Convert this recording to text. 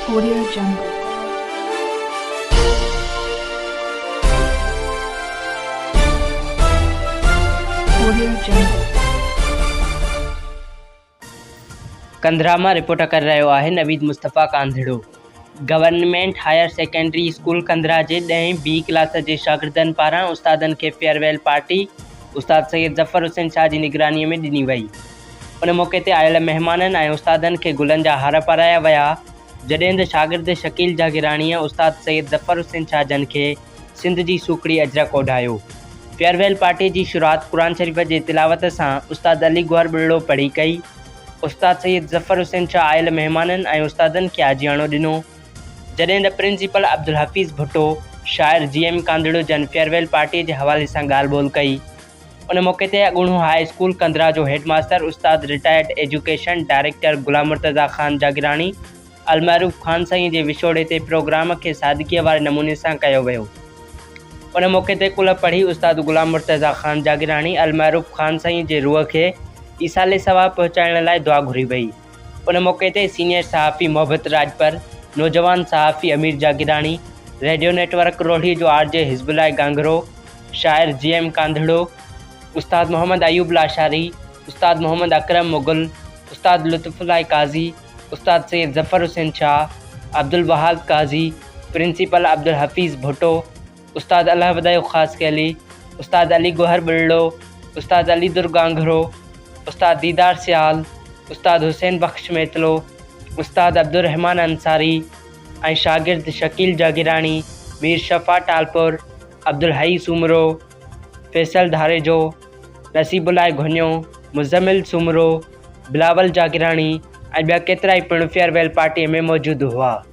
Korea جنگ، ڪوريا جنگ. ڪنڌرا مان رپورٽ ڪري رهيو آهي Naveed Mustafa Kandharo. Government higher secondary school Kandhra جي ڏهين بي ڪلاس جي شاگردن پاران استادن کي فيئر ويل پارٽي استاد سيد ظفر حسين شاهه جي نگراني ۾ ڏني وئي. ان موقعي تي آيل مهمانن ۽ استادن کي گلن جا هار پارايا ويا، جڏهن ته شاگرد شڪيل جاگيراڻيء استاد سيد ظفر حسين شاهه جن کي سنڌ جي سوکڙي اجرڪ اوڍايو. فيئر ويل پارٽيء جي شروعات قرآن شريف جي تلاوت سان استاد علي گوهر ٻرڙو پڙهي ڪئي. استاد سيد ظفر حسين شاهه آيل مهمانن ۽ استادن کي آجياڻو ڏنو، جڏهن ته پرنسپل عبدالحفيظ ڀٽو، شاعر جي ايم ڪانڌڙو جن فيئر ويل پارٽيء جي حوالي سان ڳالهه ٻولهه ڪئي. ان موقعي تي اڳوڻو هاء اسڪول ڪندرا جو هيڊ ماستر استاد retired education director Ghulam Murtaza Khan Jagirani المعروف خان سائين جي وڇوڙي تي پروگرام کي سادگيء واري نموني سان ڪيو ويو. ان موقعي تي ڪلهه پڙهي استاد غلام مرتضيٰ خان جاگيراڻي المعروف خان سائين جي روح کي ايصال ثواب پهچائڻ لاء دعا گهري وئي. ان موقعي تي سينيئر صحافي محبت راڄپر، نوجوان صحافي Amir Jagirani, radio network Rohri جو آر جي حزب الله گانگرو، شاعر جي ايم ڪانڌڙو، استاد محمد ايوب لاشاري، استاد محمد اڪرم مغل، استاد لطف الله قاضي، استاد سيد ظفر حسين شاهه، عبدالوهاب قاضي، پرنسپل عبدالحفيظ ڀٽو، استاد الله ودايو خاصخيلي، استاد علي گوهر ٻلڙو، استاد علي در گانگهرو، استاد ديدار سيال، استاد حسين بخش ميتلو، استاد عبدالرحمان انصاري ۽ شاگرد شڪيل جاگيراڻي، مير شفا ٽالپر، عبدالحئي سومرو، فيصل ڌاريجو، نصيب الله گهنيو، مزمل سومرو، بلاول جاگيراڻي ۽ ٻيا ڪيترائي پڻ فيئر ويل پارٽيء ۾ موجود هئا.